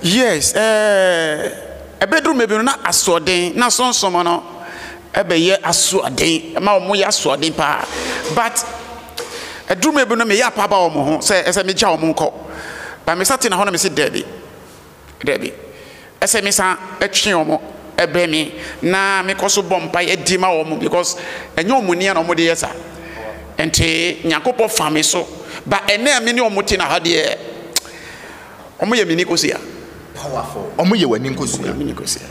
Yes, ɛbɛduru mmerɛ bi no na asoɔden, na sonsom no ɛbɛyɛ asoɔden, ɛma wɔn yɛ asoɔden paa. But ɛduru mmerɛ bi no meyɛ apa ba wɔn ho sɛ ɛsɛ megya wɔn nkɔ. But mesa tena hɔ na mese daabi, daabi, ɛsɛ mesan ɛtwe wɔn ɛbɛn me na mekɔ so bɔ mpaeɛ di ma wɔn because ɛnyɛ wɔn nia na wɔn de yɛ sa. Ɛnti Nyankopɔn fa me so. But ɛnɛ a mene wɔn te na ha deɛ. Ɔmo yɛ me ni kosua. Powerful. Ɔmo yɛ w'ani nkosua. Ɔmo yɛ me ni kosua.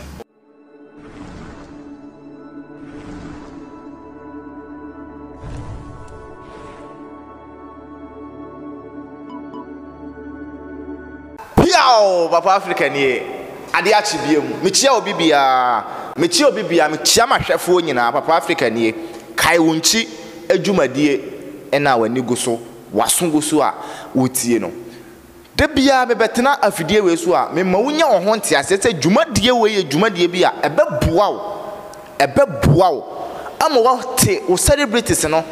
Piaw! Papa Africa nie. Ade akye biom. Mekyia obi biara. Mekyia obi biara. Mekyia m'ahwɛfoɔ nyinaa. Papa Africa nie. Kae wo nkyi adwumadie na w'ani gu so, w'aso gu so a wotie no. Da biara mebɛtena afidie wei so a, mema wonya wo ho nteaseɛ sɛ dwumadie wei yɛ dwumadie bi a ɛbɛboa wo, ɛbɛboa wo ama woate wo celebrities no,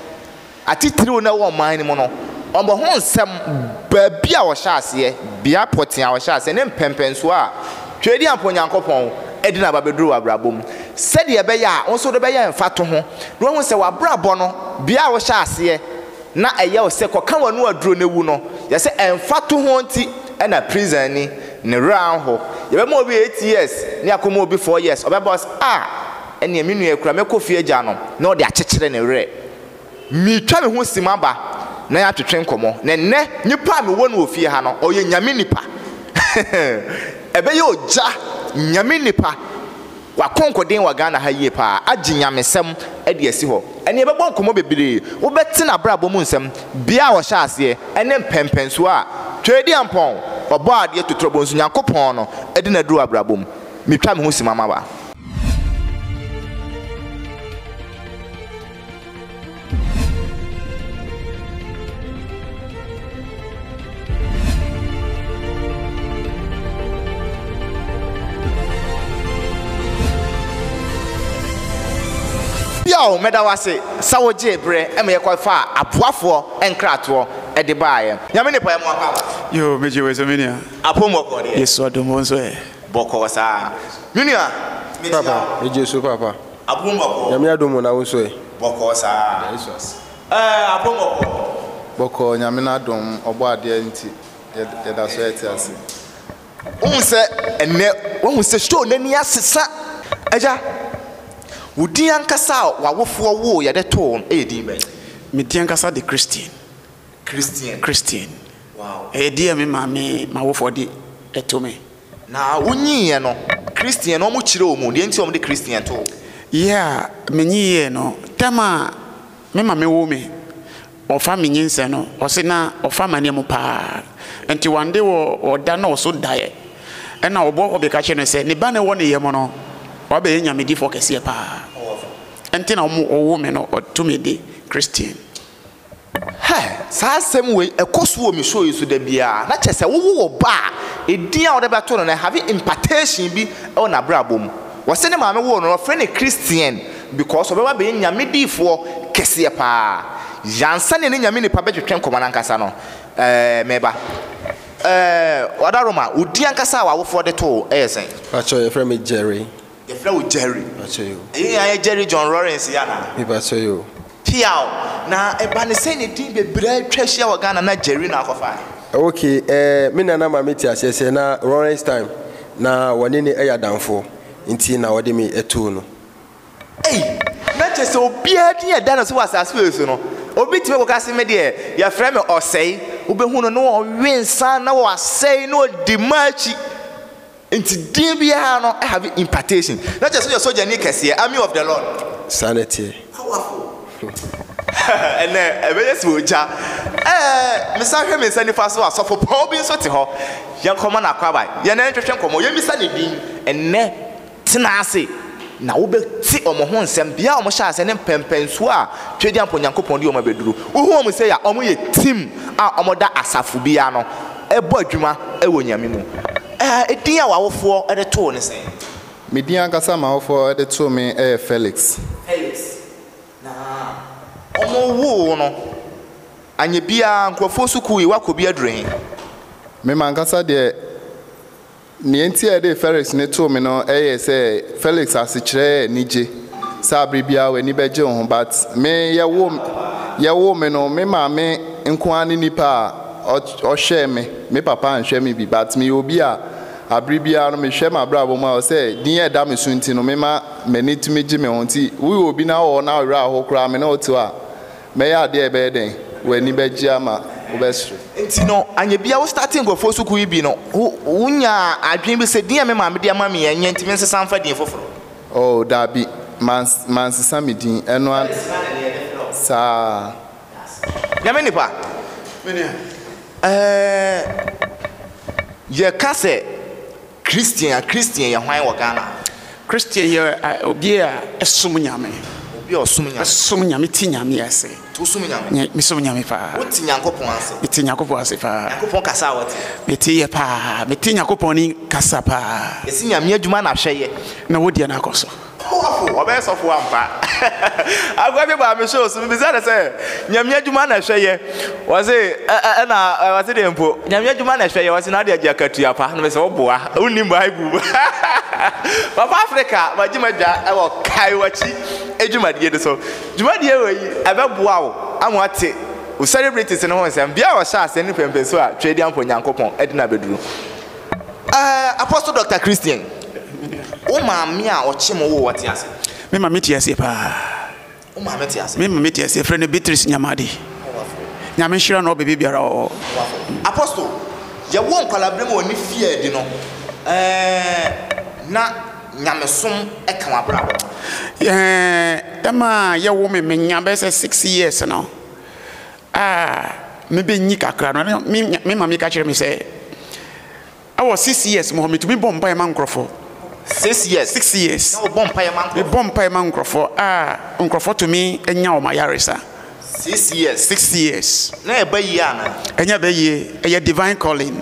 atitiriw na ɛwɔ ɔman no mu no, wɔn ho nsɛm, baabi a wɔhyɛ aseɛ, bea pɔtee a wɔhyɛ aseɛ ne mpɛnpɛnsoɔ a Tweedi Ampɔn Onyankopɔn de no aba bɛduru w'abrabɔ mu. Sɛdeɛ ɛbɛyɛ a wo nso wode bɛyɛ mfatoho na woahu sɛ w'abrabɔ no, bea a wohyɛ aseɛ, Na ɛyɛ wo sɛ kɔka w'ano aduro no wu no yɛ sɛ ɛmfatoho nti ɛna prison ni ne werɛ anho yɛbɛma obi eight years ne akɔma obi four years ɔbɛba ɔse ah ɛneɛ me nua yi koraa mɛkɔ fie agya no na ɔde akyekyere ne werɛ metwa me ho sim aba na yɛatwetwe nkɔmɔ na nnɛ nipa a mewɔ no wɔ fie ha no ɔyɛ nyame nipa ɛbɛyɛ ogya nyame nipa W'akɔnkɔden wɔ Ghana ha yie paa, agye nyamesɛm de asi hɔ. Ɛnna yɛbɛbɔ nkɔmmɔ bebree, wobɛte n'abrabɔ mu nsɛm, bea a ɔhyɛɛ aseɛ, ɛne mpɛnpɛnsoɔ a Tweediampɔn, Ɔbɔadeɛ Totorobonsu Nyankopɔn no de no aduru w'abrabɔ mu. Metwa me ho simama ba. Bio, meda wo ase sɛ wogyee berɛ ma yɛkɔfaa aboafoɔ nkratoɔ de baeɛ. Nyame ne pae mu aba aba. Yoo megye wei so me nua. Apom bɔkɔɔ deɛ. Yesu adom wo nso ɛ. Bɔkɔɔ saa. Me nua, mekyia wo. Papa, megye so papa. Abrombɔkɔ. Nyame adom o na wo nso ɛ? Bɔkɔɔ saa. Ɛda Yesu ase. Ɛɛ Abrombɔkɔ. Bɔkɔɔ Nyame n'adom, ɔbɔ adeɛ nti yɛda so ɛte ase. Wohu sɛ ɛnnɛ wahu sɛ show no ani asesa. Agya, wo din ankasa a w'awofoɔ woo yɛ de too no yɛ din bɛn? Me din ankasa de Christian. Christian. Christian. Wow. Ɛyɛ din a me maame, m'awofoɔ de to me. Na wonyiiɛ no, Christian no, wɔkyerɛw mu deɛ nti a wɔde Christian too. Yɛ a menyiiɛ no, tam a me mame woo me, wɔfa me nyinsɛn no, ɔse na ɔfa amaneɛ mu pa ara. Nti one day wɔ ɔda na ɔso daeɛ, ɛna ɔbɔɔ hɔ beka kyerɛɛ no sɛ ne ba no ɛwɔ ne yam no, wabɛyɛ nyamedifoɔ kɛseɛ pa ara. Nti na wɔn wɔwoo me no, wɔto me de Christian. Hɛ! Saa asɛm wei, ɛkɔ so wɔ me show yi so da biara, na kyerɛ sɛ wowo wo ba a, edin a wode bɛto no no, ɛhave impartation bi wɔ n'abrabɔ mu. Wɔse ne maame woo no no, wɔfrɛ no Christian because ɔbɛba abɛyɛ Nyame difoɔ kɛseɛ paa. Ansa na ɛne Nyame nipa bɛtwetwe nkɔmmɔ no ankasa no, eh, meba. Eh, Wadaroma, wo din ankasa a w'awofoɔ de too wo yɛ sɛn? Pakyɛ, yɛfrɛ me Jerry. Yɛfrɛ wo Jerry. Mepakyɛ yi o. Ɛyɛ yɛn ayɛ Jerry John Lawrence yi anaa? Mepakyɛ yi o. Piaw. Na ɛba ne sɛn na din bebree atwa ahyia wɔ Ghana na Jerry na akɔfae? Ok, eh, me nana ma mete aseɛ sɛ na Lawrence Time na wɔne no yɛ adamfoɔ nti na ɔde me too no. Ei, na kyerɛ sɛ obiara din a ɛda ne so wɔ asase wei so no, obi tumi kɔka se me deɛ yɛfrɛ me Ɔsɛe. Wobɛhu no na ɔwe nsa na wasɛe na ɔdi mma akyi. Nti din biara no have impartation. Na kyerɛ sɛ woyɛ sogyani kɛseɛ, army of the Lord. Saa na ɛteɛ. Powerful. Ɛnnɛ, ɛbɛyɛ sɛ ogya. Ɛɛ, mesa hwɛ me nsa nifa so a, sɔfo pɔw bi nso te hɔ. Yɛnkɔma no akwaaba. Yɛne no ntwetwe nkɔmmɔ. Yɛmmisa ne din. Ɛnnɛ, tena ase, na wobɛte wɔn ho nsɛm. Bea a wɔhyɛ aseɛ ne mpɛnpɛnsoɔ a Twedeampo Nyankopɔn de wɔn abɛduru. Wohu wɔn sei a, wɔyɛ team a wɔda asafo bi ano bɔ adwuma wɔ Nyame mu. Edin a w'awofoɔ de too wo ne sɛn? Me din ankasa a m'awofoɔ de too me yɛ Felix. Felix. Na wɔwoo wo no, anyɛ biara, nkurɔfoɔ sukuu yi, woakɔ bi aduru he? Me m'ankasa deɛ, nea enti a wɔde Felix no too me no yɛ sɛ Felix asekyerɛ yɛ anigye, sɛ abere biara w'ani bɛgye wo ho. But me, wɔwoo me no, me maame nko ara ne nipa a ɔhwɛɛ me. Me papa anhwɛ me bi but meyɛ obi a abere biara no mehwɛ m'abrabɔ mu a ɔsɛ din a ɛda me so nti no mema m'ani tumi gye me ho nti woyɛ obi na wowɔ hɔ na wo werɛ ahow koraa me ne wo tew a mɛyɛ adeɛ a ɛbɛyɛ dɛn w'ani bɛgye ama wobɛsere. Nti no anyɛ biara wo starte nkurɔfoɔ sukuu yi bi no wo nyaa adwene bi sɛ din a me maame de ama me yi ɛnyɛ nti me nsesa mfa din foforɔ? Oh daabi mansesa me din ɛno ara saa. Nyame nipa, ɛɛɛ yɛka sɛ Christian a, Christian yɛ hwan wɔ Ghana? Christian yɛ obi a ɛsom Nyame. Obi a ɔsom Nyame. Ɛsom Nyame, ti Nyame ase. Nti wosom Nyame? Me som Nyame paa. Wo te Nyankopɔn ase? Me te Nyankopɔn ase paa. Nyankopɔn kasa a wɔte? Me te yɛ paa, me te Nyankopɔn ne kasa paa. Yɛse Nyame adwuma na hwɛ yɛ. Na wo deɛ no akɔ so. Powerful! Ɔbɛyɛ sɔfo ampa. Akwabye baa me show so, mibisa no sɛ, Nyame adwuma na ɛhwɛ yɛ? Ɔse, Ɛ ɛ ɛna ɔse deɛ mpo? Nyame adwuma na ɛhwɛ yɛ? Ɔse, na ade agye akatua pa. Na mese, Woboa, wonnim Bible mu. Papa Africa, magye m'adwa wɔ Kae W'akyi dwumadie no so. Dwumadie wei, ɛbɛboa wo ama woate wo celebrities no ho nsɛm. Bia ɔhyɛ aseɛ ne pɛmpɛnsuo a Tweediamfo Nyankopɔn de no abɛduru. Ɛɛ Apostle Doctor Christian, wo maame a ɔkye mo woo wo te aseɛ? Me maame te aseɛ paa. Wo maame te aseɛ? Me maame te aseɛ, frɛ no Beatrice Nyamade. Nyame nhyira no wɔ baabi biara ɔwɔ. Apostle, yɛwɔ nkwalaaberɛ mu wɔ ne fie a ɛdi no, ɛɛ na nyamesom ɛka w'abrabɔ? Ɛɛ ɛma a yɛwo me, menya bɛyɛ sɛ six years no. A Mibenyin kakra no, na me me maame ka kyerɛ me sɛ, wɔ six years mu hɔ, mitumi bɔ mpaeɛ ma nkurɔfoɔ. Six years? Six years. Na wobɔ mpaeɛ ma nkurɔfoɔ? Mebɔ mpaeɛ ma nkurɔfoɔ a nkurɔfoɔ tumi nya wɔn ayaresa. Six years? Six years. Na ɛba yie anaa? Ɛnyɛ ɛba yie, ɛyɛ divine calling.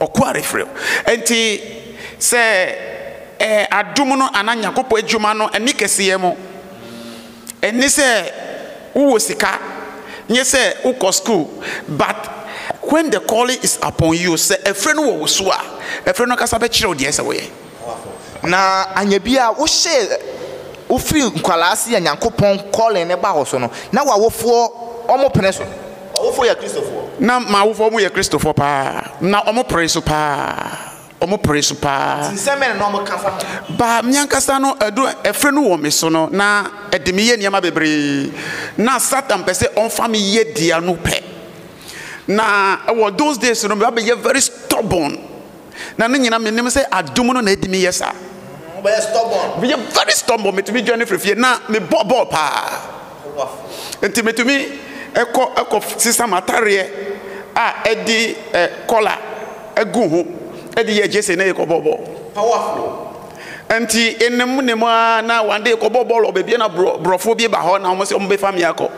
Ɔko a refrɛ wo. Enti sɛ ɛɛ adom no anaa Nyankopɔn adwuma no nni kɛseyɛ mu. Ɛnni sɛ wowɔ sika, nyɛ sɛ wokɔ sukuu, but when the calling is upon you, sɛ ɛfrɛ no wɔ wo so a, ɛfrɛ no ankasa bɛkyerɛ wo deɛ ɛsɛ sɛ woyɛ. Na anyɛ biara wohyɛɛ wofiri nkwadaa ase yɛ Nyankopɔn calling no ba woso no na wawofoɔ ɔmo pene so. Wawofoɔ yɛ Kristofoɔ. Na mawofoɔ ɔmo yɛ Kristofoɔ paa na ɔmo pere so paa ɔmo pere so paa. Nti nsɛm bɛn na ɔmo ka fa ho? Ba me ankasa no ɛdu ɛfrɛ no wɔ me so no na ɛde me yɛ nneɛma bebree na Satan pɛ sɛ ɔnfa me yɛ dea no pɛ na ɛwɔ those days no me ba bɛyɛ very stubborn. na ne nyinaa menim sɛ adom no na ɛdi me yɛ saa. Meyɛ stubborn. Meyɛ very stubborn metumi dwane firi fie na mebɔ bɔɔl paa nti metumi ɛkɔ ɛkɔ sisa m'atareɛ a ɛde ɛ kɔla ɛgu ho ɛde yɛ gyese na ɛkɔ bɔ bɔɔl. Powerful. Nti enem nem a na one day kɔ bɔ bɔɔl wɔ baabi na borɔfoɔ bi ba hɔ na wɔn sɛ wɔn bɛfa me akɔ.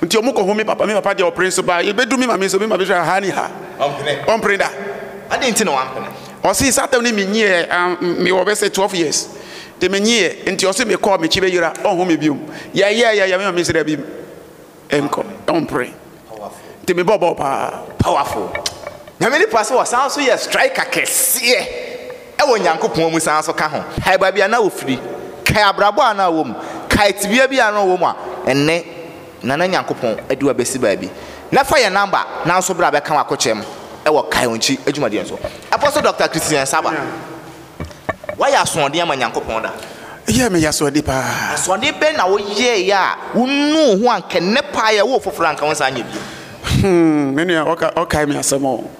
Nti ɔmo kɔ home me papa, me papa deɛ ɔpere nso baa yɛbɛduru me mame nso me mame hwɛ ahaa ne haa, ɔmpere da. Adɛn nti na wampene? Ɔse saa tam no me nyiiɛ a me wɔ bɛsɛ 12 years nti me nyiiɛ nti ɔse me kɔ a me kyi bɛyera ɔnho me biom yɛyɛɛ yɛyɛɛ me mame se dabi nkɔ ɔmpere nti me bɔbɔɔ paa. Powerful. Nyame nipa sɛ ɔsan nso yɛ striker kɛseɛ. wɔ Nyankopɔn mu san so ka ho. Kae baabi a na ofiri. Kae abrabɔ a na ɔwɔ mu. Kae tebea bi a na ɔwɔ mu a ɛnnɛ na na Nyankopɔn de wo abɛsi baabi. Na fa yɛn namba na nso bra bɛka w'akokyɛm wɔ Kae Ɔnkyi adwumadeɛ no so. Ɛfɔ so Dɔkta Christian Saba, woayɛ asoɔden ama Nyankopɔn da? Yɛ, meyɛ asoɔden paa. Asoɔden bɛn na woyɛeɛ a wonuu wo ho anka ɛnnɛ paa yɛwo wo foforɔ a anka wonsan nyɛ bio? Hmm, me nua, wokae me asɛm o.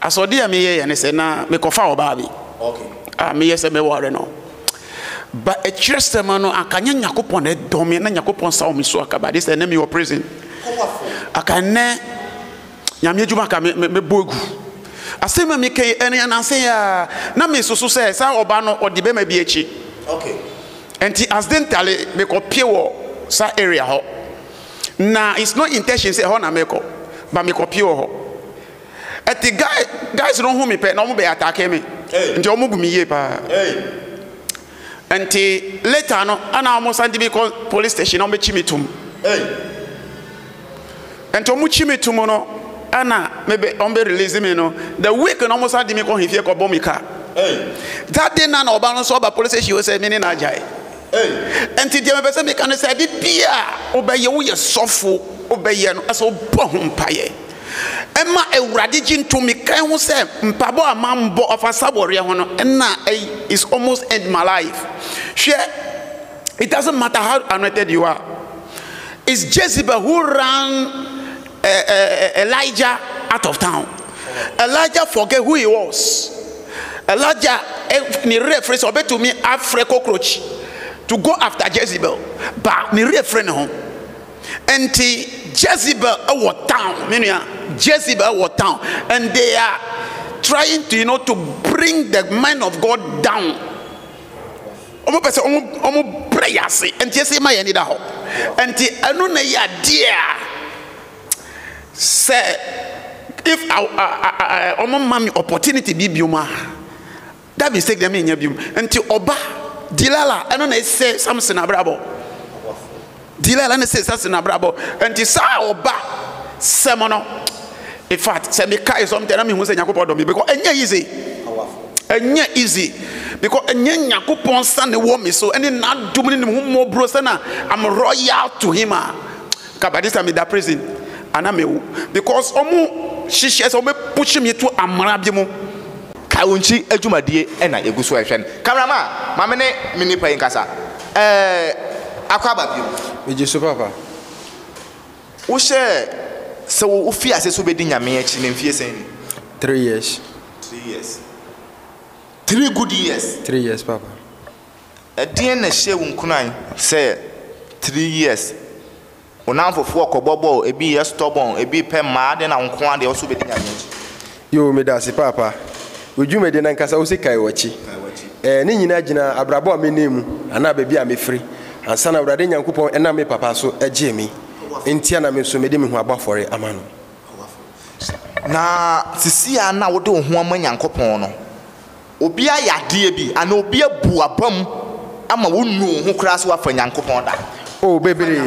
Asoɔden a meyɛeɛ ne sɛ na mekɔfa ɔbaa bi a meyɛ sɛ mɛware no. Ba akyirɛsɛm no, anka nyɛ Nyankopɔn na ɛdɔ me, na Nyankopɔn nsa wɔ me so anka, ba de sɛ ɛnɛ mewɔ prison. Anka ɛnɛ Nyame adwuma anka mɛbɔ agu. Asɛm a meka yi ɛne ananse yi a na mesoso sɛ saa ɔbaa no ɔde bɛma bi akyi. Nti accidentally mekɔpie wɔ saa area hɔ. Na it's not intention sɛ ɛhɔ na mekɔ, ba mekɔpie wɔ hɔ. Ɛte guy guys no hu me pɛ na wɔn bɛ atake me nti wɔn bu me yie paa nti later no ɛna wɔn san de mi kɔ police station na wɔn bɛ kyi me tum nti wɔn kyi me tum no ɛna me bɛ wɔn bɛ release me no the week na wɔn san de mi kɔ hifie kɔ bɔ me ka that day na na ɔba no nso ɔba police station sɛ me ne na agyae nti deɛ mepɛ sɛ meka no sɛ ɛde bi a wobɛyɛ woyɛ sɔfo wobɛyɛ no ɛsɛ wobɔ ho mpaeɛ Ɛma Awurade gye ntom. Mekae ho sɛ mpaebɔ a mambɔ ɔfa saboreɛ ho no, ɛna is almost end my life. Hwɛ, it doesn't matter how anointed you are. It's Jezebel who ran uh, uh, Elijah out of town. Elijah forget who he was. Elijah, eh, ne reference, obetumi afre cockroach to go after Jezebel. But ne reference home. Enti Jezebel wɔ town, me nua. Jezebel wɔ town, and they are trying to you know to bring the mind of God down. Wɔn pɛ sɛ wɔn wɔn brɛ yɛ ase, nti esi ma yɛn ni da hɔ. Nti ɛno na yɛ adeɛ a sɛ if wɔn ma mi opportunity bi biom a. Da mistake deɛ menyɛ biom nti ɔba Dilala ɛno na ɛsɛ Samson abrabɔ Dilala na ɛsɛ Samson abrabɔ nti saa ɔba sɛm no in fact sɛ mekae something na mehu sɛ Nyankopɔn dɔ me because ɛnyɛ easy ɛnyɛ easy because ɛnyɛ Nyankopɔn sa ne wɔ me so ɛne n'adom ne ne ho mmɔborɔ sɛ na I'm royal to him a ka by this time meda prison ana mewo because ɔmo hyehyɛ sɛ ɔmo push me to amara bi mu Kaonkyi adwumadie na yɛgu so rehwɛ no. Camera man, ma me ne me nnipa yi nkasa. Ɛɛ, akɔ aba bio? Megye so papa. Wohyɛɛ sɛ wofii aseɛ sɛ wobɛdi Nyame akyi no mfeɛ sɛn ni? Three years. Three years. Three good years? Three years papa. Ɛdeɛn na ɛhyɛɛ wo nkuran sɛ three years? Wo namfofoɔ kɔbɔ bɔɔl, ebi yɛ stubborn, ebi pɛ mmaa de na nkoaa deɛ ɔso bɛtumi agye akyi. Yoo medase paapa wo dwumadi nankasa wose kae wakyi ɛɛ ne nyinaa gyina abrabɔ a menam mu anaa baabi a mefiri ansa na awurade nyankopɔn ɛnam me papa so gyee me ntia na me nso mede me ho abɔ afɔre ama no. Na sisi a na wode wo ho ama nyankopɔn no Obi ayɛ adeɛ bi anaa obi abu abam ama wonnu wo ho koraa sɛ woafa Nyankopɔn da. Oh, bebree,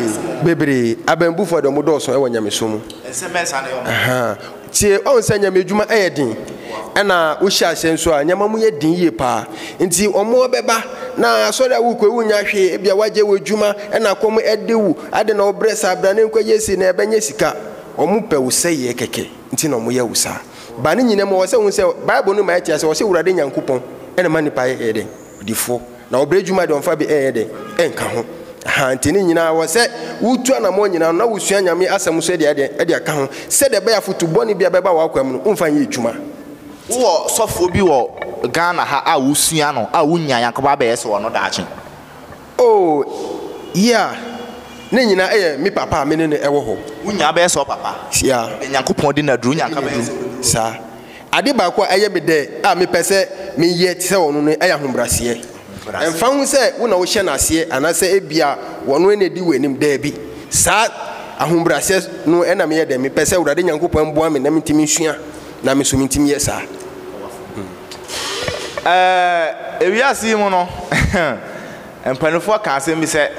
bebree. Abambufoɔ deɛ wɔdɔɔso wɔ Nyamesom mu. Ɛnsɛ mɛnsa ne wɔn. Ahaa. Tie, woahu sɛ Nyame adwuma yɛ den, ɛna wohyɛ aseɛ nso a, nneɛma mu yɛ den yie paa. Nti wɔbɛba, na asɔre a worekɔ yi, wonnya hwee, ebia woagyae w'adwuma, ɛna kɔm de wo, adɛn na wobrɛ saa, bra na yɛnkɔyɛ sei, na yɛbɛnyɛ sika. Wɔpɛ wo sɛeɛ kɛkɛ, nti na wɔyɛ wo saa. Ba ne nyina mu ɔwɔ sɛ hu sɛ bible no ma yɛte ase ɔse wurade nyankopɔn ɛna ma nipa yɛ dɛn odifoɔ na ɔbrɛ dwuma de ɔmfa bi ɛyɛ dɛn ɛnka ho ahaa nti ne nyinaa wɔ sɛ wotu anamɔ nyinaa no na wosua nyame asɛm so ɛde ɛdɛn ɛde aka ho sɛ deɛ ɛbɛyɛ afotu bɔne bi a bɛba w'akwa mu no womfa nyɛ adwuma. Wowɔ sɔfoɔ bi wɔ Ghana ha a wosua no a wonnya nyankopɔn abɛyɛ sɛ ɔno daakye? Oh, yeah, ne nyinaa ɛyɛ me papa a me ne no ɛwɔ hɔ. Wo nyaa bɛyɛ sɛ ɔpapa. Yeah. Deɛ Nyankopɔn di no aduro, wonya nka bɛyɛ sɛ ɔbɛdi no. Saa. Ade baako a ɛyɛ me dɛ a mepɛ sɛ meyɛ te sɛ ɔno no ɛyɛ ahobraseɛ. Ɛmfa ho sɛ wo na wohyɛ no aseɛ anaasɛ ebia ɔno na ɛdi w'anim, daabi. Saa ahobraseɛ no na meyɛ dɛ mepɛ sɛ Awurade Nyankopɔn boa me na mentumi nsua na me nso mentumi yɛ saa. Ɛɛ, wiase yi mu no, mpanimfoɔ ka asɛm bi sɛ,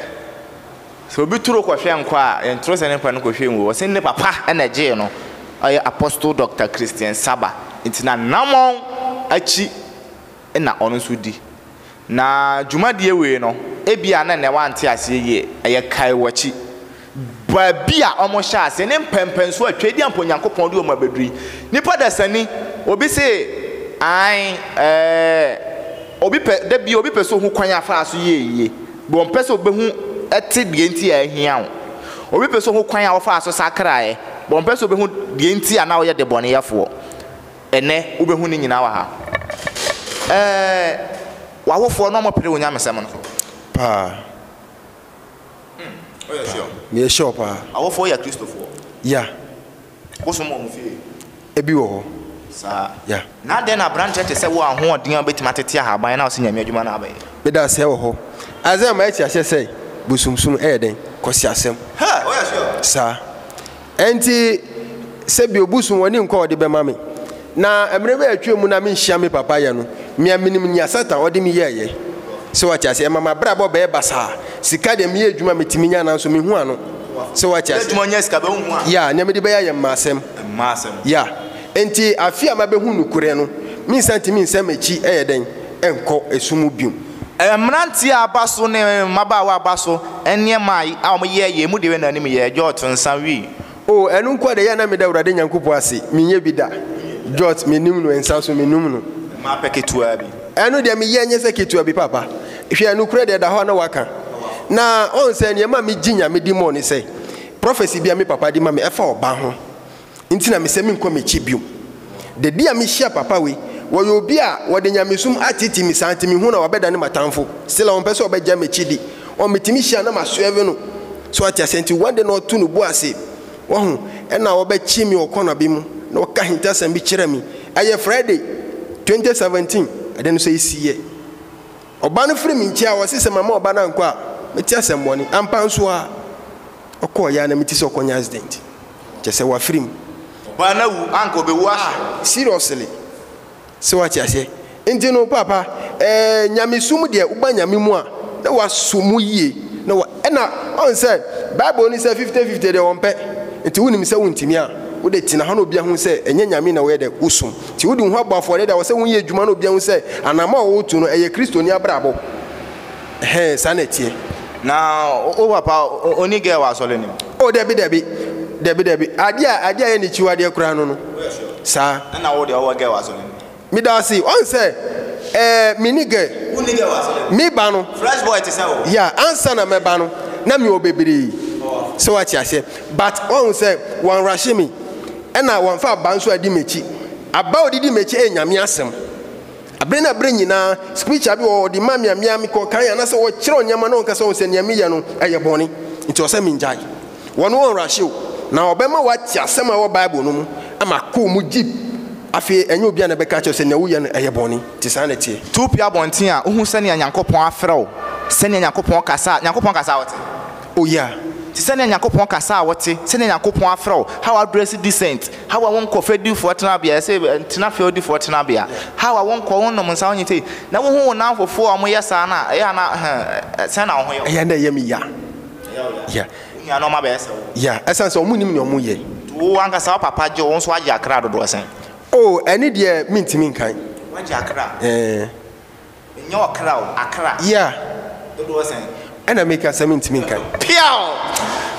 Sɛ obi turo kɔhwɛ nkwa a, yɛntoro sɛ ne mpa no kɔhwɛ ngu hɔ. Wɔse ne papa na ɛgyee no. Ɔyɛ Apostle Doctor Christian Saba. Nti n'anammɔn akyi na ɔno nso di. Na dwumadie wei no, ebia na nnɛ woante aseɛ yie, ɛyɛ kae w'akyi, baabi a wɔhyɛɛ aseɛ ne mpɛnpɛnsoɔ a Tweadia mpo Nyankopɔn de wɔn abɛduru yi. Nipa dasani, obi se, Ae, ɛɛ, obi pɛ, da bi obi pɛ sɛ ɔhu kwan a faa so yɛɛ yie, bɛ ɔmpɛ sɛ ɔbɛhu, te deɛ nti a ahia wo. Obi pɛ sɛ ɔhu kwan a wofaa so sakraeɛ, bɛ ɔmpɛ sɛ ɔbɛhu deɛ nti a na woyɛ debɔneyɛfoɔ. Ɛnnɛ, wobɛhu ne nyinaa wɔ ha. Ɛɛ, w'awofoɔ na wɔpere wo nyamesɛm no? Paa. Hmm, woyɛ sure? Meyɛ sure paa. W'awofoɔ yɛ Kristofoɔ? Ya. Wosom wɔ wɔn fie? Ebi wɔ hɔ. Saa. Ya. Na adɛn na aberanteɛ te sɛ wo a ahoɔden a wobɛtumi atete ahaban na wose Nyame adwuma na abɛyɛ? Meda aseɛ wɔ hɔ. Isaiah ma yɛte aseɛ sɛ bosomsom yɛ dɛn? Kwasiasɛm. Hɛ, woyɛ sure? Saa. Ɛnti sɛ bi obu so wɔn ani nkɔ a ɔde bɛma me. Na mmerɛ bi a atwam mu no a menhyia me papa yɛ no, me a menim nea Satan ɔde me yɛɛyɛ. Sɛ wate aseɛ? Ɛma m'abrabɔ bɛyɛ basaa. Sika deɛ meyɛ adwuma a metumi nya nanso mehu ano. Sɛ wate aseɛ? Adwuma nyɛ sika bɛ wohu a. Yeah, nea mede bɛyɛ ayɛ mma asɛm. Mma asɛm. Yeah. Ɛnti afe a mabɛhu nokorɛ no, mensan ntumi nsan m'akyi ɛyɛ dɛn nkɔ ɛso mu biom. Mmeranteɛ a aba so ne mmabaawa a aba so nneɛma a wɔyɛ yɛn mu deɛ wɛn anim yɛ George nsa wii. Oh ɛno nkoa deɛ ɛyɛ a na meda Awurade Nyankopɔn ase menyɛ bi da George menim no nsa so menim no. Ɛmaa pɛ ketewa bi. Ɛno deɛ meyɛ nyɛ sɛ ketewa bi papa hwɛ nokorɛ deɛ ɛda hɔ a na waka na ɔn sɛ nneɛma a megye Nyame di mɔ ne sɛ prophecy bi a me papa de ma me ɛfa ɔba ho nti na mesɛ menkɔ m'akyi bio. Da bi a mehyia papa wei, wɔyɛ obi a wɔde nyamesom ateetee me saa nti mehu na wabɛdane m'atamfo. Still ɔmpɛ sɛ ɔbɛgya m'akyi di. Ɔn, metumi hyia na masoɛve no. So wate aseɛ? Nti one day na ɔto ne bo ase, wahu, ɛna ɔbɛkye me wɔ kɔna bi mu na waka ahintasɛm bi kyerɛ me. Ɛyɛ Friday, 2017, ɛde no sɛ ɛsiiɛ. Ɔba no firi me nkyɛn a ɔse sɛ mamma ɔba no ankɔ a, mɛte asɛmmɔne. Ampa nso aa, ɔkɔɔeɛ a na mete sɛ ɔkɔnya accident. Kyerɛ sɛ wafirim. Ɔbaa no awu anka ɔbɛwu ah. Seriously sɛ wate aseɛ nti no paapa eh, nyamesom deɛ woba nyame mu a na wasɔ mu yie na wa ɛna ɔn sɛ bible no sɛ fifty fifty deɛ ɔmpɛ nti wonim sɛ wontumi a wode tena hɔ na obi ahu sɛ ɛnyɛ nyame na woyɛ dɛ wosom nti wode wo ho abɔ afɔdeɛ de a wɔ sɛ woyɛ adwuma na obi ahu sɛ anamɔ a wotu no ɛyɛ kristoni abrabɔ. Ɛhɛɛ saa na ɛteɛ. Na wo papa ɔni girl wɔ asɔre no mu? Oh dabi dabi dabi dabi adeɛ a adeɛ a yɛ ne kyiw adeɛ koraa no no saa. Ɛna wo deɛ ɔwɔ girl wɔ asɔre no mu? Meda ase ɔn sɛ ɛɛ mini girl. Wonni girl wɔ asɔre no mu? Me ba no. Fresh boy te sɛ wo. Yeah ansa na mɛba no na me wɔ bebree sɛ wate aseɛ but ɔn sɛ wɔn rushe me ɛna wɔn fa aba nso adi m'akyi aba a ɔde di m'akyi ɛyɛ Nyame asɛm. Bere na bere nyinaa, scripture bi wɔ hɔ, ɔde ma me a, mea mekɔ kan, anaasɛ wɔkyerɛw nneɛma na ɔnkasa wɔn sɛ nea meyɛ no ɛyɛ bɔne, nti ɔsɛ mengyae. Wɔn wɔ nrahyɛ o, na ɔbɛma wate asɛm a ɛwɔ Bible no mu ama akɔ mu gyip. Afei ɛnyɛ obiara na ɛbɛka akyerɛ sɛ nea woyɛ no ɛyɛ bɔne, nti saa na ɛteɛ. Tupi abɔnten a, wohu sɛnea Nyankopɔn afrɛ wo, sɛnea Nyankopɔn kasa, Nyankopɔn kasa a, wote? Oh yeah, te sɛ nea Nyankopɔn kasa a wote, sɛnea Nyankopɔn afrɛ wo, how address decent, how a wonkɔ fɛdifoɔ tenabea, ɛsɛ ntena fɛdifoɔ tenabea, how a wonkɔ, wonnom nsa, wonyɛ sei, na wohu wo nnamfofoɔ a wɔyɛ saa no a, ɛyɛ a na, huh, sɛn na wo ho yɛ wo? Ɛyɛ a na ɛyɛ me ya. Ɛyɛ wo ya? Yeah. Wo nuanom abɛyɛ sɛ wo? Yeah, ɛsiane sɛ wɔnnim nea wɔyɛ. Nti wo ankasa wo papa gye wo, wo nso woagye akra dodoɔ sɛn? Oh, ɛno deɛ mentumi nkan. Woagye akra? Eh. Ɛnyɛ ɔkra o, akra. Yeah. Dodoɔ sɛn? Ɛna make asɛ me ntumi nkan. Piaw!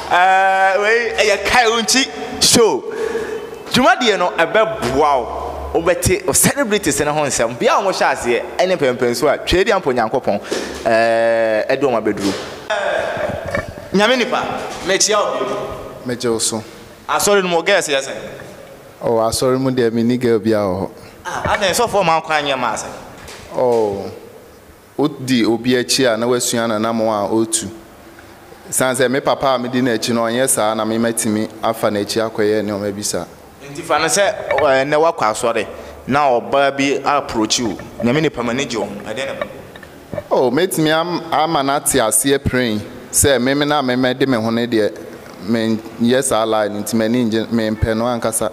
Ɛɛ wei ɛyɛ kae wo nti show. Dwumadie no ɛbɛboa wo wobɛte o celebrities no ho nsɛm. Bia a wɔhyɛ aseɛ ɛne mpɛnpɛnsuo a Twɛdi Ampɔn Nyankopɔn ɛɛ ɛde wɔn abɛduru. Nyame nipa, mekyia wo bio. Megye wo so. Asɔre no mu, wo girls yɛ sɛn? Oh asɔre mu deɛ menni girl biara wɔ hɔ. Ah adɛn sɔfoɔ mma wo kwan nyɛ mmaa asɛm. Oh wo di obi akyi a na woasua nanammo a ɔretu. Ɛsiane sɛ me papa a medi no akyi no ɔnyɛ saa na me matumi afa n'akyi akɔyɛ nneɛma bi saa. Nti fa no sɛ ɛnnɛ woakɔ asɔre na ɔbaa bi approachi wo, Nyame nipa m'ani gye wo ho, ɛdeɛn na ɛbɛba mu? O, mɛtumi ama no ate aseɛ pirenn sɛ memene a memɛ de me ho no deɛ menyɛ saa lie no nti m'ani nnye, mempɛ no ankasa.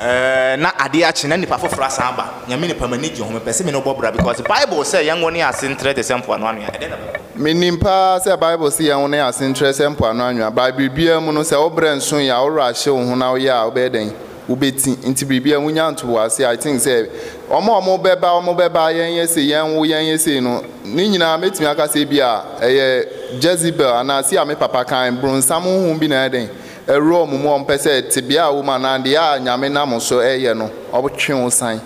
Ɛɛɛ na adeɛ akye na nipa foforɔ asan aba, Nyame nipa m'ani gye ho, mepɛ sɛ me ne wo bɔ bra because Bible sɛ yɛnwo ne ase ntrɛ te sɛ mpoano anwea, ɛdɛn na bɛbɔ no? Menim paa sɛ Bible se yɛnwo ne ase ntrɛ sɛ mpoano anwea, but biribiara mu no sɛ wo brɛ nso yi a wo werɛ ahye wo ho na woyɛ a wobɛyɛ dɛn? wobɛti nti biribiara wo nya nto w'ase I think sɛ wɔn a wɔn bɛba wɔn bɛba yɛn yɛ sei yɛn wo yɛn yɛ sei no ne nyinaa mɛtumi aka sɛ ebi a ɛyɛ Jezebel anaa sei a me papa kan bronsam honhom bi na ɛyɛ dɛn ɛwura wɔn mu wɔn pɛ sɛ tebea a wɔn anaa deɛ a Nyame nam so ɛyɛ no ɔtwe wo san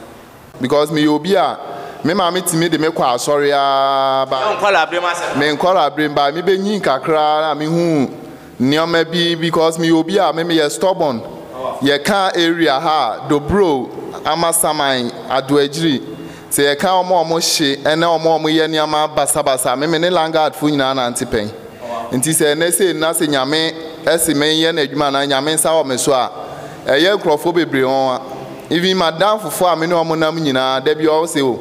Because me yɛ obi a me maame tumi de me kɔ asɔre aa but me nkɔlaabrem but me bɛ nyin kakra aa na me hu nneɛma bi because me yɛ obi a me me yɛ stubborn yɛ ka area ha a Dobro, Amasaman, Adoagyiri sɛ yɛ ka ɔmo a ɔmo hye ɛne ɔmo a ɔmo yɛ nneɛma basabasa me me ne langard fo nyinaa nante pɛn. Ntsi sɛ ndɛ sei no na sɛ Nyame se menyɛ n'edwuma anaa Nyame nsa wɔ me so a, ɛyɛ nkorɔfoɔ bebree nwanwa. Even m'adamfofoɔ a me ne wɔn nam nyinaa, da bi wɔn se o,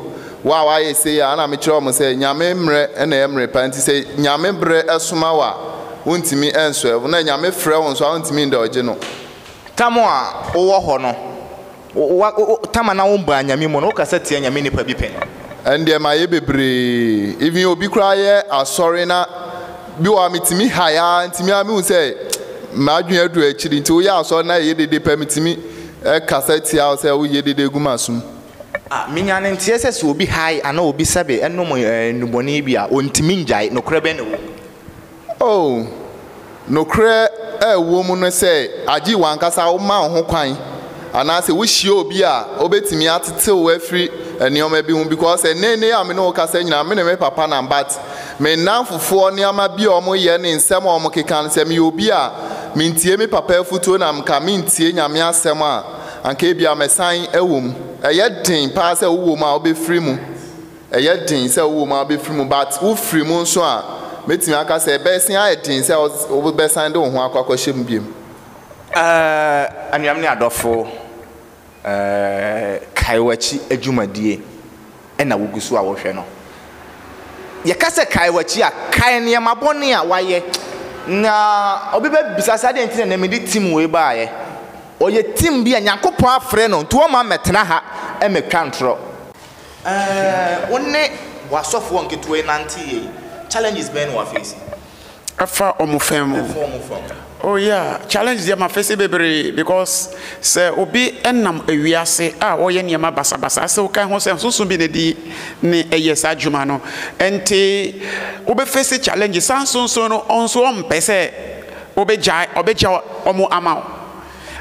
wo a w'ayɛ sei a, ɛna me kyerɛ wɔn sɛ Nyame mmerɛ na ɛyɛ mmerɛ pa, ntsi sɛ Nyame berɛ soma wo a, wontumi nsɔɛ wo, na Nyame frɛ wo nso a, wontumi ndɔɔgye no. Tam a wowɔ hɔ no, Wa wo tam anaa wo baa nyame mu no wo kasa tia nyame nipa bi pɛn. Ɛndeɛ mayɛ bebree even obi koraa yɛ asɔre na bi wɔ a metumi hae aa nti me aa mehu sɛ m'adwene aduru akyiri nti woyɛ asɔre na ɛyɛ dede pɛ metumi kasa tia wo sɛ woyɛ dede gu m'asom. Ah me nyaa no nteɛ sɛ sɛ obi hae anaa obi sɛbe nom nnubɔne bi a ɔntumi ngyae nokorɛ bɛn na ɛwɔ mu. Oh, nokorɛ a ɛwɔ mu ne sɛ agye w'ankasa woma wo ho kwan anaasɛ wohyia obi a ɔbɛtumi atetew wo afiri nneɛma bi ho because ɛnnɛ nnɛ yi a me ne wo kasa nyinaa me ne me papa nam but me nnamfofoɔ nneɛma bi a wɔyɛ ne nsɛm a wɔkeka no sɛ meyɛ obi a mentie me papa afutuo na nka mentie Nyame asɛm a anka ebia mɛsan ɛwɔ mu ɛyɛ den paa sɛ wowɔ mu a wobɛfiri mu Ɛyɛ den sɛ wowɔ mu a wobɛfiri mu, but wofiri mu nso a, mɛtumi aka sɛ ɛbɛsen ayɛ den sɛ wobɛsan de wo ho akɔ akɔhyɛ mu biom. Uh, anuam ne adɔfo, uh, kae w'akyi adwumadie ɛna wogu so a wohwɛ no. Yɛka sɛ kae w'akyi a, kae nneɛma bɔne a wayɛ. Na obi bɛbisa sɛ adɛn nti na nɛ mede tim wei baeɛ? Ɔyɛ tim bi a Nyankopɔn afrɛ no nti wɔma mɛtena ha mɛtwa ntorɔ. Ɛɛɛɛɛ wo ne w'asɔfoɔ nketewa yi nante yie yi, challenges bɛn na wafeesi? Ɛfa wɔn fã mu. Ɛfa wɔn fã mu. Oh yeah, challenges deɛ mafeesi bebree because sɛ obi nam wiase a ɔyɛ nneɛma basabasa asɛ woka ho sɛ nsonso bi na ɛdi ne ɛyɛ saa adwuma no nti wobɛfeesi challenges, saa nsonso no wɔn nso wɔmpɛ sɛ wobɛgyae wɔbɛgya wɔn ama wo.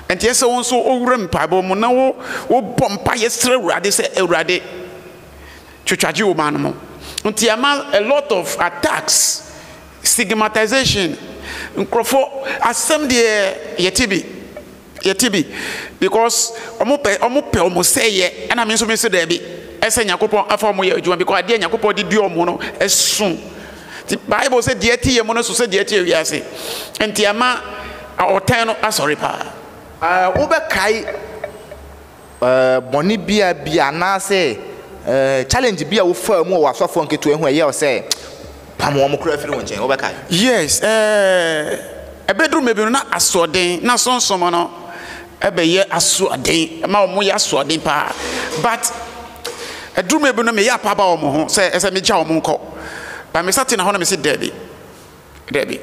Enti ɛsɛ sɛ wo nso wowura mpaebɔ mu na wobɔ mpaeɛ srɛ Awurade sɛ, Awurade, twitwagye wo man no mu. Nti ama a lot of attacks, stigmatization, nkurɔfoɔ asɛm deɛ yɛte bi, yɛte bi because wɔn pɛ wɔn pɛ wɔn sɛeɛ ɛna me nso me se daabi ɛsɛ Nyankopɔn afa wɔn yɛ adwuma because adeɛ Nyankopɔn de dua wɔn no ɛso. Nti Bible sɛ deɛ ɛte yɛn mu no so sɛ deɛ ɛte wiase. Nti ɛma ɔtan no asɔre paa. Uh, wobɛkae uh, bɔne bia bi anaasɛ uh, challenge bi a wofaa mu wɔ asɔfoɔ nketewa ho ɛyɛ sɛ pam wɔn koraa firi wo nkyɛn wobɛkae? Yes, uh, ɛbɛduru mɛbi no na asoɔden na sonsom no ɛbɛyɛ asoɔden ɛma wɔn yɛ asoɔden paa but Aduru mmerɛ bi no meyɛ apa aba wɔn ho sɛ ɛsɛ megya wɔn nkɔ. But mesa tena hɔ na mese daabi, daabi.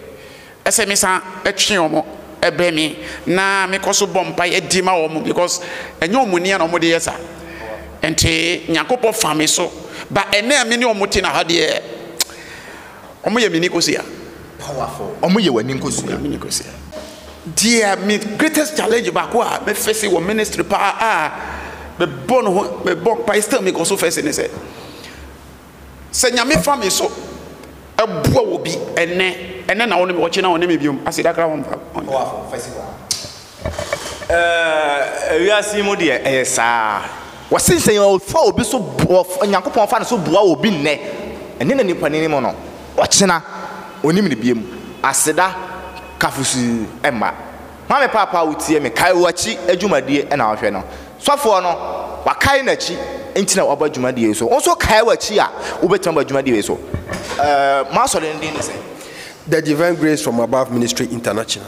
Ɛsɛ mesan twe wɔn bɛ me na mekɔ so bɔ mpaeɛ di ma wɔn because ɛnyɛ wɔn nia na wɔde yɛ sa. Nti Nyankopɔn fa me so. But ɛnɛ a me ne wɔn te na ha deɛ. Wɔn yɛ me ni kosua. Powerful. Wɔn yɛ w'ani nkosua. Yɛ me ni kosua. Deɛ me greatest challenge baako a me fɛsi wɔ ministry paa a me bɔ no ho me bɔ mpa still me kɔ so fɛsi ne sɛ sɛ nyame fa me so ɛboa wɔ bi ɛnɛ ɛnɛ na wɔn me wɔkye na wɔn me biom aseda kra wɔn mpa. Powerful fɛsi wa. Ɛɛ, wiase yi mu deɛ, ɛyɛ saa. Wɔse sɛ wɔfa obi so boa, Onyankopɔn fa ne so boa obi nnɛ, ɛne na nipa no anim no, ɔkyena ɔnnim no biom. Aseda ka fusuu mma. Maame Paapa, wotie me? Kae w'akyi adwumadie na wohwɛ no. Sɔfoɔ no, wakae n'akyi nti na waba dwumadie yi so. Wo nso kae w'akyi a, wobɛtumi aba dwumadie wei so. Ɛɛ, mo asɔre no din ne sɛn? The Divine Grace From Above Ministry International.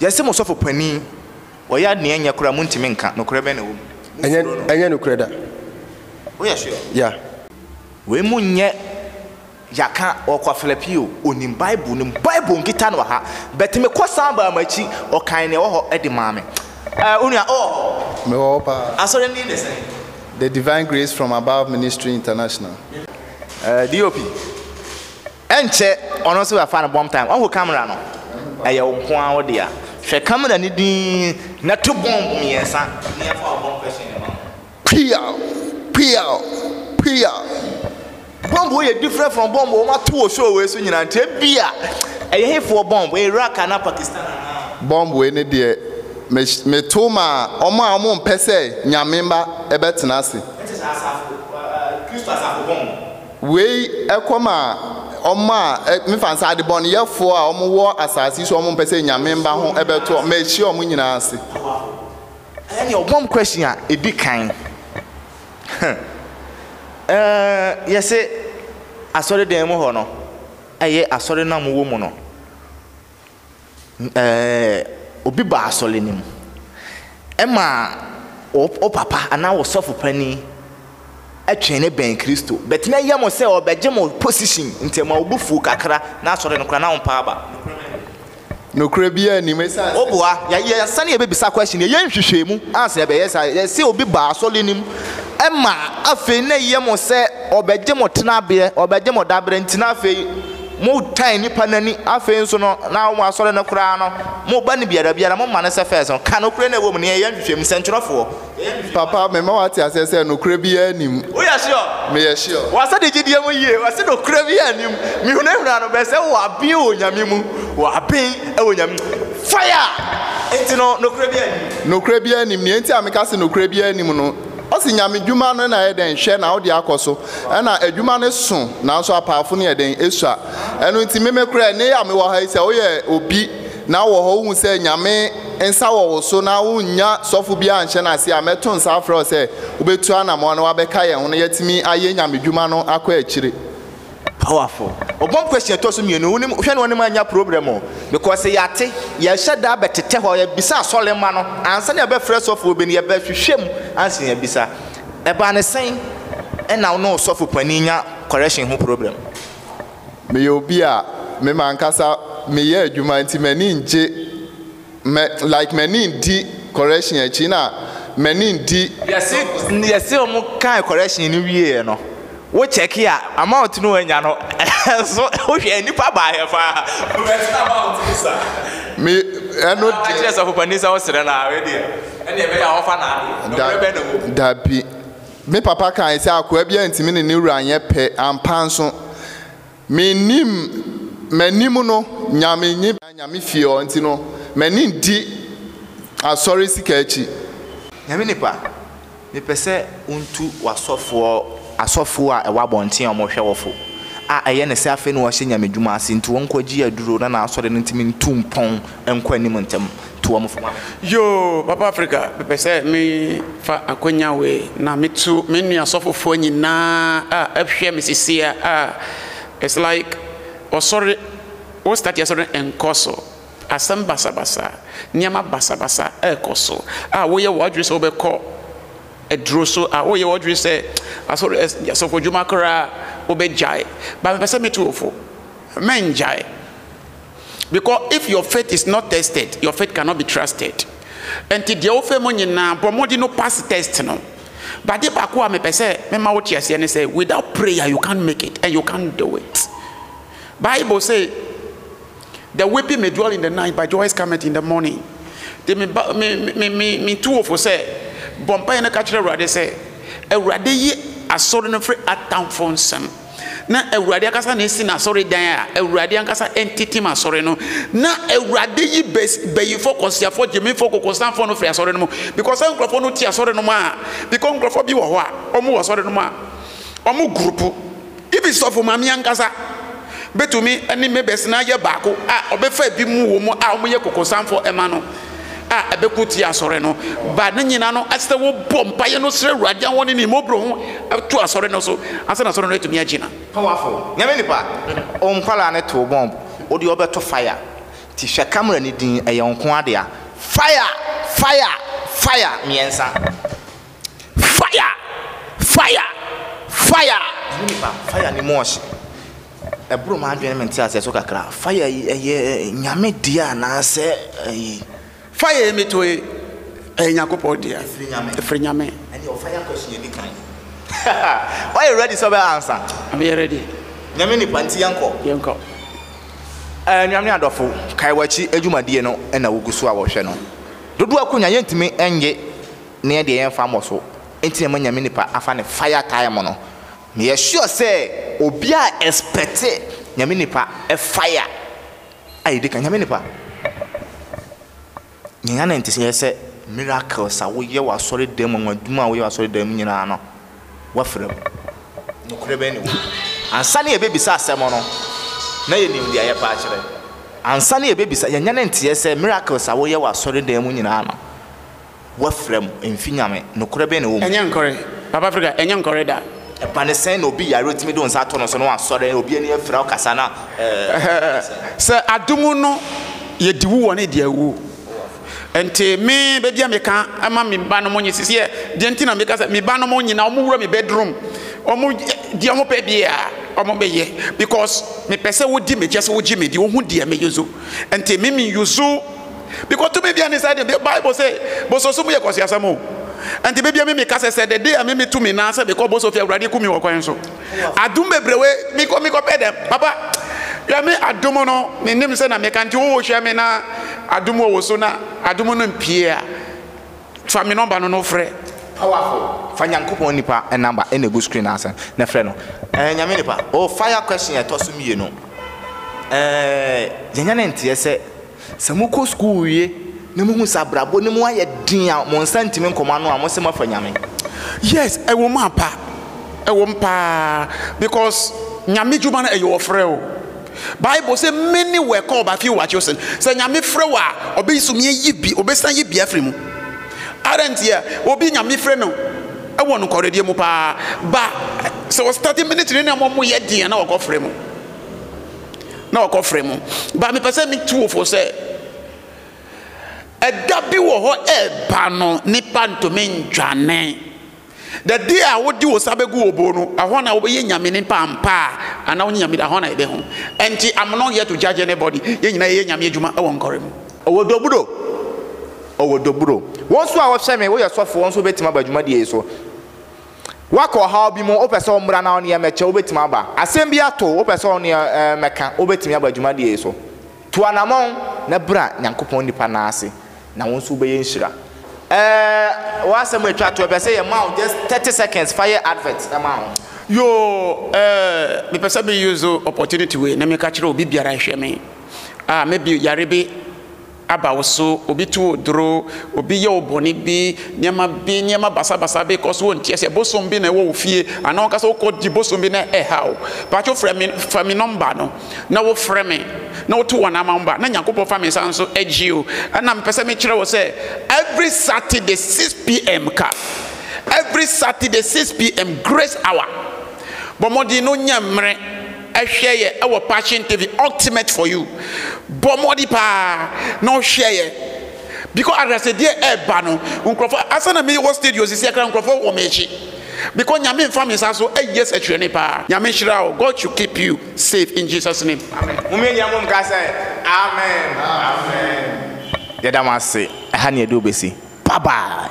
Yɛse mo sɔfo panin wɔyɛ ade nea ɛnyɛ koraa montumi nka, nokorɛ bɛn na ɛwɔ mu? Ɛnyɛ ɛnyɛ nokorɛ da. Woyɛ sure? Yeah. Wei mu nyɛ yaka or kwafla pii o, onim bible no mu, bible nkita no wɔ ha, but me kɔ san baa mo akyi ɔkan nea ɛwɔ hɔ de maa me. Ɛɛ onua wowɔ hɔ? Me wɔ hɔ paa. Asɔre no din de sɛn? The Divine Grace From Above Ministry International. Ɛɛ DOP. Ɛnkyɛ ɔno nso bɛfa no bɔmp time. Wahu camera no? Ɛyɛ wo nko ara wo dea. Hwɛ camera no dinn na to bɔmp mmiɛnsa na yɛmfa wo bɔmp question no mma no. Piaw! Piaw! Piaw! Bɔmp wei yɛ different from bɔmp wɔn ato wɔ show wei so nyinaa nti ebia ɛyɛ hefoɔ bɔmp? Iraq anaa Pakistan anaa? Bɔmp wei ne deɛ me meto maa wɔn a wɔmpɛ sɛ Nyame mma bɛtena ase. Ɛnte saa asafo, Kristo asafo bɔmp. Wei kɔ ma wɔn a, mefa no sɛ adebɔneyɛfoɔ a wɔwɔ asase yi so a wɔmpɛ sɛ Nyame mma ho bɛto wɔn, mahyia wɔn nyinaa ase. Ɛnneɛ ɔbɔ me question a, ɛdi kan, yɛse asɔredan mu hɔ no, ɛyɛ asɔre no a mowɔ mu no. obi ba asɔre no mu, ɛma wo papa anaa wo sɔfo panin twe no bɛn Kristo. But na ɛyɛ mo sɛ ɔbɛgye mo position nti ɛma wo bo fuw kakra na asɔre no koraa na wompaa ba. Nokorɛ biara nnim ɛsiane sɛ. Woboa, yɛasane yɛbɛbisa question, yɛyɛ nhwehwɛmu ansa yɛbɛyɛ saa. Yɛse obi ba asɔre no mu, ɛma afei na ɛyɛ mo sɛ ɔbɛgye mo tenaberɛ, ɔbɛgye mo daberɛ nti na afei. Mo tan nipa nani afei nso no na wɔn asɔre no koraa no mo ba no biara biara mo ma no sɛ first no ka nokorɛ no a ɛwɔ mu no yɛn yɛ nhwehwɛ mu sɛnkyerɛfoɔ yɛn yɛ nhwehwɛ. Papa me ma wate aseɛ sɛ nokorɛ biara nni mu. Wo yɛ sure? Me yɛ sure. Wa sɛ de gyidie mu yie wɔ se nokorɛ biara nni mu me huna huna no bɛ sɛ wɔ aben wɔ Onyame mu wɔ aben wɔ Onyame mu fire enti no nokorɛ biara nni mu. Nokorɛ biara nni mu nea enti a me ka se nokorɛ biara nni mu no Ɔse Nyame dwuma no na ɛyɛ dɛn hwɛ na wode akɔ so ɛna adwuma no so nanso apaafo no yɛ dɛn esua ɛno nti meme koraa ɛnɛ yi a mewɔ ha yi sɛ woyɛ obi na wowɔ hɔ wohu sɛ Nyame nsa wɔ wo so na wonnya sɔfo biara anhyɛ no ase a mɛto nsa afrɛ wo sɛ wobɛtu anamɔn na wabɛka yɛn ho na yɛatumi ayɛ Nyame dwuma no akɔ akyire. Powerful. Ɔbɔm question ɛtɔ so mmienu wonim hwɛ no ɔnim anya problem o because yɛate yɛhyɛ da bɛtetɛ hɔ yɛbisa asɔre mma no ansa na yɛbɛfrɛ sɔfoɔ bi no yɛbɛhwehwɛ mu ansa na yɛbisa ɛbaa no sɛn ɛna wo ne wo sɔfo panin nya correction ho problem. Meyɛ obi a me m'ankasa meyɛ adwuma nti m'ani ngye. mɛ like mɛni di correction akyi na mɛni di. Yɛsi yɛsi wɔn kan correction ni wie yɛ no wo check a amount no wɔn nya no ɛso wo hwɛ nipa baa yɛ paa wɔn bɛ tena amount ni sa. Mi ɛno deɛ. Ɛna kyerɛ sɔfo panin sɛ wo srɛ na awɛ deɛ ɛna ɛbɛ yɛ a wɔn fa na ade ɛwura bɛ na mu. Dabi mi papa kan sɛ akoa bi a ntumi ne ne wura nyɛ pɛ ampa nso. Mennim m'anim no Nyame nye bia Nyame fie hɔ nti no m'ani nndi asɔre sika akyi. Nyame nipa, mepɛ sɛ wontu w'asɔfoɔ asɔfoɔ a ɛwɔ abɔnten a wɔhwɛ wɔ fo a ɛyɛ ne sɛ afei na wɔahyɛ Nyame dwuma ase nti wɔnkɔgye aduro na n'asɔre no ntumi ntu mpɔn nkɔ anim ntɛm to wɔn fo. Yoo papa Africa mepɛ sɛ me fa akwanya wei na me to me nua asɔfofoɔ nyinaa a ɛhwɛ me sesia a it's like ɔsɔre wo start asɔre nkɔ so asɛm basabasa nneɛma basabasa ɛkɔ so a woyɛ w'adwene sɛ wobɛkɔ aduro so a woyɛ w'adwene sɛ asɔre asɔfo adwuma koraa wobɛgyae ba mepɛ sɛ me to wo fo mɛngyae because if your faith is not tested your faith cannot be trusted ɛnti deɛ wofɛ mu nyinaa bɔ mmɔden no pass test no bade baako a mepɛ sɛ mema wo teaseɛ ne sɛ without prayer you can't make it and you can't do it bible say the weeping may dwell in the night but joy is coming in the morning de me ba me me me me tu wofo sɛ bɔ mpaeɛ no ka kyerɛ awurade sɛ awurade yi asɔre no firi atamfo nsam na Awurade ankasa na esi n'asɔredan a Awurade ankasa ntetem asɔre no, na Awurade yi bayifo, kɔsiafo, gyimifo, kokosanfo no firi asɔre no mu, because sɛ nkurɔfoɔ no te asɔre no mu a, because nkurɔfoɔ bi wɔ hɔ a wɔn wɔ asɔre no mu a wɔn gurupu, ibi sɔfo maame ankasa betumi ne me bɛsena yɛ baako a ɔbɛfa ebi mu wɔ mu a wɔyɛ kokosanfo ɛma no. a ɛbɛko tia asɔre no ba ne nyinaa no ɛsɛ sɛ wobɔ mpaeɛ no srɛ awurade ahɔ ne ne mmɔborɔ ho to asɔre no so ansa na asɔre no atumi agyina pawafo nyame nipa o nkwalaa ne too bomb wode ɔbɛto fire ti hwɛ camera ne din ɛyɛ nko adea fire fire fire mmiɛnsa. Fire! Fire! Fire! Ɛho nipa, fire ne mu ɔhye. Ɛboro m'adwene me nteaseɛ so kakra. Fire yi ɛyɛ nyame deɛ anaasɛ ɛyi? Fire yi meto yi ɛyɛ Nyankopɔn deɛ. Ɛfiri nyame. Ɛfiri nyame. Ɛne ɔ fire question yɛ di kan yi. Woayɛ ready sɛ ɔbɛ ansa? Meyɛ ready. Nyame nipa nti yɛnkɔ. Yɛnkɔ. Anuam ne adɔfo, kae w'akyi adwumadie no na wogu so a wɔhwɛ no. Dodo Akonya yɛntumi nnye. ne yɛn deɛ yɛn nfa mmɔ so nti na ɛma nyame nipa afa ne fire time no me yɛ sure sɛ obia expect nyame nipa fire a yɛdi kan nyame nipa yɛn yɛn nti sɛ yɛ sɛ miracles a woyɛ wɔ asɔre dan mu wɔn adwuma a woyɛ wɔ asɔre dan mu nyinaa no wafra mu nokorɛ bɛn ne wɔ mu ansa ne yɛbɛbisa asɛm no na yɛnim deɛ yɛpa akyerɛ ansa ne yɛbɛbisa yɛn yɛn nti yɛ sɛ miracles a woyɛ wɔ asɔre dan mu nyinaa no Wafira mu, ɛmfi Nyame. Nokorɛ bɛn na ɛwɔ mu? Ɛnyɛ nkɔre. Papa Afrika, ɛnyɛ nkɔre da. Ɛba no sɛn na obi yare otumi de onsa ato no so na wasɔre na obi ani afira ɔkasa na ɛɛ. Sɛ adom no yɛ diwu wɔ ne deɛ awuo nti me bɛbia meka ma me ba nom nye sisiɛ deɛ nti na meka sɛ me ba nom nyina ɔmo wura me bedroom ɔmo deɛ ɔmo pɛ bia ɔmo bɛyɛ because me pɛ sɛ wodi me kyɛ sɛ wogye me di wohu deɛ me yuzu nti me me yuzu Because tumi bia ni sɛdeɛ bible se boso so mu yɛ kɔsiasɛm o nti bebia me meka sɛ sɛ the day a me metu me nan sɛ mekɔ boso fie awurade ku me wɔ kwan so adom bebrewe mekɔ mekɔ pɛ dɛm papa hwɛ me adom no me nim sɛ na meka nti wowo hwɛ me na adom wɔ wo so na adom no mpie a fa me nɔmba no no frɛ Powerful. Fa Nyankopɔn nipa number ɛna ɛgu screen ase na frɛ no. Ɛɛ Nyame nipa. Oh fire question a ɛtɔ so mmienu. Ɛɛ yɛnyɛ ne nteɛ sɛ. Sɛ mokɔ sukuu wie na mohu sɛ abrabɔ no mu ayɛ den a mo nsa ntumi nkɔ mo ano a, mose moafa Nyame. Yes, ɛwom ampa, ɛwom paa because Nyame dwuma no ɛyɛ ɔfrɛ o. Bible se many were called but few were chosen. Sɛ Nyame frɛ wo a, ɔbɛsumi ayi bi, ɔbɛsan ayi bi afiri mu. Adɛn ntia? Obi Nyame frɛ no wɔ nokɔredeɛ mu paa but sɛ ɔstarte ministry no na ɛma ɔmo yɛ den a na wakɔ frɛ mu. na ɔkɔfrɛ mo ba mepɛ sɛ metu wo fo sɛ ɛda bi wɔ hɔ ɛba no nipa ntumi ntwane dade a wode wo sa bɛgu wɔ bo no ɛhɔ na wobɛyɛ nyame nipa ampa a anaa wonyɛ nyame ɛhɔ na ɛbɛ ho ɛnti I'm not here to judge anybody yɛ nyina yɛyɛ nyame adwuma ɛwɔ nkɔre mu ɔwɔ doburo ɔwɔ doburo wɔn so a wɔhyɛ me woyɛ sɔfoɔ nso bɛtumi aba adwumadie so Woakɔ ɔhaw bi mu, wopɛ sɛ wommra na wo ne yɛn mmɛkyɛ, wobɛtumi aba. Asɛm bi ato wo, wopɛ sɛ wo ne yɛn mmɛka, wobɛtumi aba dwumadie yi so. Tu anammɔn na bra Nyankopɔn nnipa nan ase na wo nso wobɛyɛ nhyira. Ɛɛ w'asɛm atwa to, ɛpɛ sɛ yɛma wo just thirty seconds, fa yɛ advert na ma ho. Yoo ɛɛ mepɛ sɛ me use opportunity wei na meka kyerɛ obi biara hwɛ me a maybe yare bi. aba wo so, obi tu wo duro, obi yɛ wo bɔne bi, nneɛma bi, nneɛma basabasa bi kɔ so, wonte aseɛ, bosom bi na ɛwɔ wo fie, anaa ɔka sɛ wokɔ di bosom bi na ɛha wo. Paatwo frɛ me, fa me nɔmba no, na wofrɛ me, na woto wɔn ama wɔba, na Nyankopɔn fa me nsa nso agye o. Ɛna mepɛ sɛ mekyerɛ wo sɛ, every Saturday 6 pm ka, every Saturday 6 pm, grace hour, bɔ mmɔden na wonya mmerɛ, Hwɛ yɛ wɔ Passion TV Ultimate for You. Bɔ mmɔden paa na ɔhwɛ yɛ because adrasɛdeɛ ɛba no nkurɔfo asa na mi wɔ studio sisi akra nkurɔfo wɔ mi akyi because nyame nfa mi nsa so ɛyɛ sɛkyerɛni paa nyame nhyira wo God should keep you safe in Jesus name amen. Mo mmienia mo nka sɛ amen. Amen. Yɛda mo ase ɛha ne yɛde wo bɛsi. Bye bye.